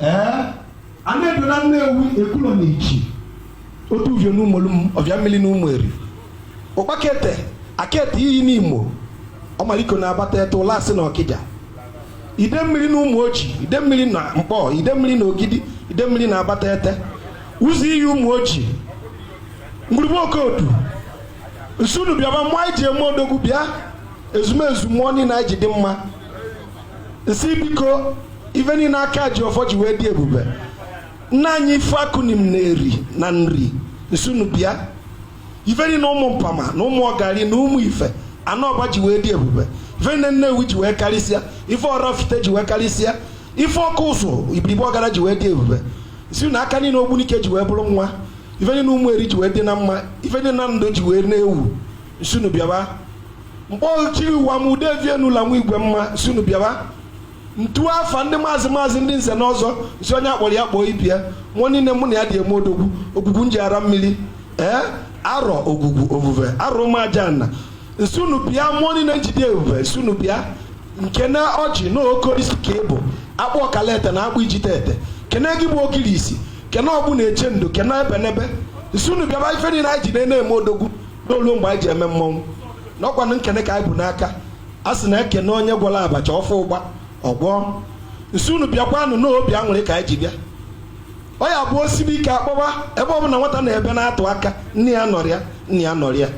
ee ana edo na nnewi ekwulo na ichi otu uvio na ụmụolum ovia mmiri na ụmụeri ụkpakete akete iyi nimo ọmaliko na abatete ụlasị na ọkịja ide mmiri na ụmụ oji ide mmiri na nkpọ ide mmiri na ogidi ide mmiri na abatete ụzọ iyi ụmụ oji ngwurugbe okodu nsi unu bịaba mmụọ anyị ji eme odogwu bịa ezumezu mmụọ niile anyị ji dị mma nsị biko ife niile aka ji ọfọ ji wee dị ebube nna anyị ifikuanim na eri na nri nsi unu bịa ife niile ụmụ mpama na ụmụ ọgari na ụmụ ife ana ọba ji wee dị ebube ife niile nnewi ji wee karịsịa ife ọrafite ji wee karịsịa ife ọkụzụ ibiribe ọgada ji wee dị ebube si na aka niile ogbunike ji wee bụrụ nwa ife niile ụmụeri ji wee dị na mma ife niile nando ji wee na-ewu nsi unu bịaba mkpọ chiri ụwa ma ude vie n'ụlọ nwa igwe mma nsi unu bịawa ntu afa ndị maazị maazị ndị nze na ọzọ nsi onye a kpọrọ ya kpọọ ibe ya mmụọ niile mụ na ya ji eme odogwu ogwugwu njighara mmiri ee arọ ogwugwu ovuve arọ ụmụajana nsi unu bịa mmụọ niile nji dị ebube nsi unu bịa nkene ọjị na oke osisi ka ị bụ akpụ ọkalete na akpụ ijite ete kene gị bụ ogirisi kene ọgbụ na-eche ndo kene ebenebe nsi unu bịaba ife niile anyị ji na-eme odogwu n'o lu mgbe anyị ji eme mmọnwụ nọkwanụ n'ekene ka anyị bu n'aka a sị na e kene onye gwọrọ abacha ọ fọ ụgba ọ gwọọ nsi unu bịakwanụ n'obi aṅụrị ka anyị ji bịa ọ ya bụ o sibe ike akpọwa ebe ọ bụla nwata na-ebe na-atụ aka nne ya anọrọ ya nna ya nọrọ ya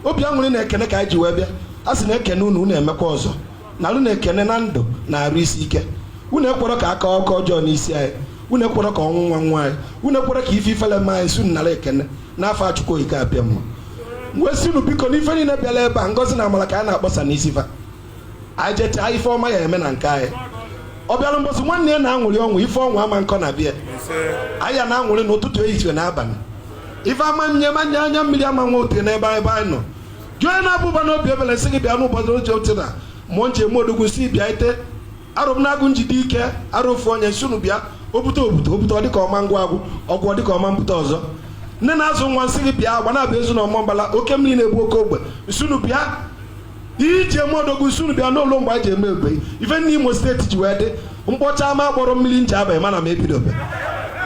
obi aṅụrị na ekene ka anyị ji wee bịa a sị na e kene unu unu emekwa ọzọ na unu na-ekene na ndụ na arụ isi ike unu ekwerọ ka akụkọ ọjọọ n'isi anyị unu ekwerọ ka ọnwụnwa nwa anyị unu ekwerọ ka ife ifele mee anyị si unu nara ekene n'afa chukwu okike abịama wee si unu biko n'ife niile bịara ebe a ngozi na amara ka anyị na-akpọsa n'isi fa anyị jechaa ife ọma ya eme na nke anyị ọ bịara mbọsị nwanne ya na-aṅụrị ọṅụ ife ọṅụ ama nkọ na be anyị ya na-aṅụrị n'ụtụtụ ehihie na abalị ife ama nye manye anya mmiri ama nwa ote n'ebe ebe anyị nọ jụọ na abụba na obi ebele sị gị bịa n'ụbọchị oche oche na mmụọ nji eme odogwu si bịa ite arụ m na-agụ nji dị ike arụ ofu onye nsi unu bịa obute obute obute ọ dịka ọma ngwa agwụ ọgwụ ọ dịka ọma mbute ọzọ nne na-azụ nwa nsị gị bịa agbanabọ ezu na ọmambala oke mmiri na-ebu oke ogwe nsi unu bịa iji eme odogwu nsi unu bịa n'o lu mgbe e ji eme egbe ife niile imo steeti ji wee dị mkpọcha ama kpọrọ mmiri njaba mana m ebidobe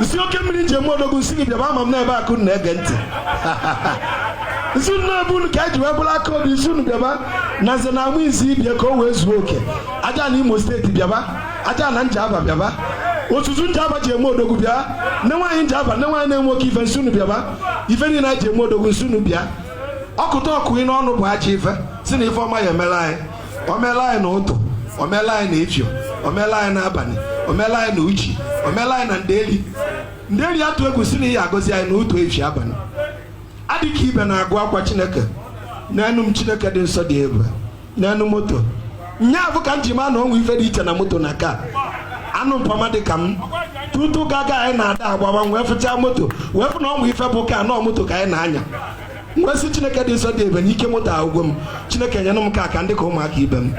nsi oke mmiri nji eme odogwu nsi gị bịaba ama m n'ebe akụ na-ege ntị nsi nne ebe unu ka eji wee bụrụ aka obi nsi unu bịaba na nze na amụ izi ibie ka o wee zuo oke ajana imo steeti bịaba ajana njaba bịaba otutu njaba ji eme odogwu bịa nne nwaanyị njaba nne nwaanyị na-enwe oke ife nsi unu bịaba ife niile anyị ji eme odogwu nsi unu bịa ọkụta ọkụ ị n'ọnụ bụ aja ife si na ife ọma ya emela anyị omela anyị na ụtụ omela anyị na efio omela anyị na abalị omela anyị na uchi omela anyị na ndeli ndeli atụ egwu si na ị ya agọzi anyị na ụtụ efi abalị adịka ibe na-agwakwa chineke nyenụ m chineke dị nsọ dị ebube nyenụ m moto nya bụ ka m ji maa na o nwe ife dị iche na moto na car anụ mpama dị ka m tutu gaga anyị na-ada agbawa wee fụchaa moto wee fụ na o nwe ife bụ car na ọ moto ka anyị na-anya m wee sị chineke dị nsọ dị ebube na ike moto agwụgo m chineke nyenụ m car ka m dị ka ụmụaka ibe m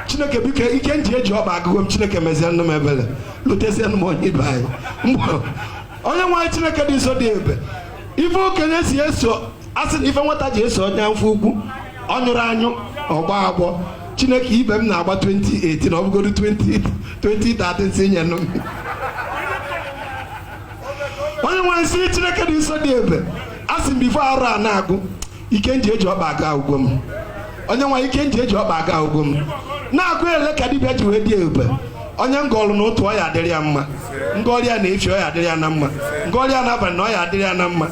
chineke biko ike nji eji ọkpa agwụgo m chineke mezie nụ m ebele lotezie nụ m onye nwe anyị onye nwe anyị chineke dị nsọ dị ebube ife okenye si eso asị na ife nwata ji eso onye afọ ukwu ọ nyụrọ anyụ ọ gbọọ agbọ chineke ibe m na-agba 2018 ọ bụgodu 2013 si nyenụ m onye nwe anyị m sị chineke dị nsọ dị ebube a sị m before arọ a na-agwụ ike nji eji ọkpa agwụgo m onye nwe anyị ike nji eji ọkpa agwụgo m na-agụ ele ka dibịa ji wee dị ebube onye m gọọlụ na ụtụ ọ ya adịrị ya mma m gọọrọ ya na efi ọ ya adịrị ya na mma m gọọrọ ya na abalị na ọ ya adịrị ya na mma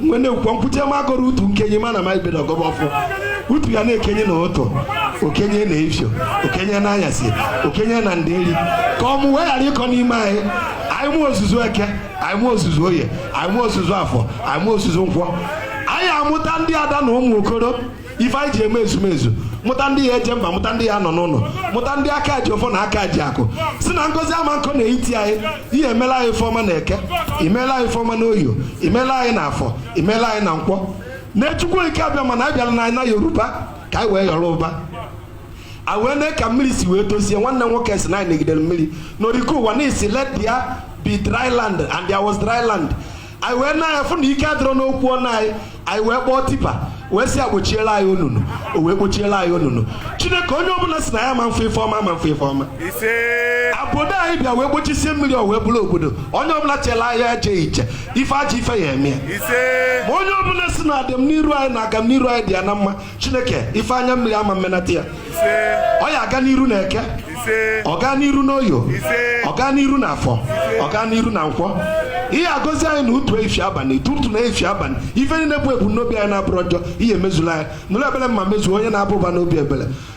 mgbe na-ekwukwa nkwute m agọrọ utu nkenye ma na ma ibedo ọ gọba ọfọ utu ya na-ekenie na ụtụ o kenie na efio o kenie na anyasị o kenie na ndeli ka ọmụmụ wee ghara ịkọ n'ime anyị anyị mụ ozuzu eke anyị mụ ozuzu oye anyị mụ ozuzu afọ anyị mụ ozuzu nkwọ anyị amụta ndị ada na ụmụ okoro ife anyị ji eme ezumezu mụta ndị ya eje mba mụta ndị ya anọ n'ụlọ mụta ndị aka ji ọfọ na aka ji akụ si na ngọzi ama akọ na etiti anyị ị ya emela anyị ifeọma na eke imeela anyị ifeọma na oye o imeela anyị na afọ imeela anyị na nkwọ na chukwu okike abịama na anyị bịala n'ana yoruba ka anyị wee yọrọ ụba a wee mee ka mmiri si wee dozie nwanne nwoke si na anyị negidere mmiri n'okike ụwa na ị sị let there be dry land and there was dry land anyị wee nee anya fụ na ike adịrọ n'okwu ọnụ anyị anyị wee kpọọ tipper wee sị akpochiela anyị onunu o wee kpochiela anyị onunu chineke onye ọbụla si na ya ma mfe ife ọma ma mfe ife ọma obodo anyị bịa wee gbochisie mmiri o wee bụrụ obodo onye ọbụla chela ahịa eje iche ife aja ife ya eme ya ma onye ọbụla si na adịmniru anyị na agamniru anyị dị ya na mma chineke ife anya mmiri ama mmenata ya ọ ya aga n'iru na eke ọ gaa n'iru n'oye o ọ gaa n'iru na afọ ọ gaa n'iru na nkwọ ị ya agọzi anyị na ụtụ efi abalị tutu na efi abalị ife nine bụ ebumnobi anyị na-abụrọ njọ ị ya emezula anyị nụrụ ebele mma mezuo onye na-aba ụba n'obi ebele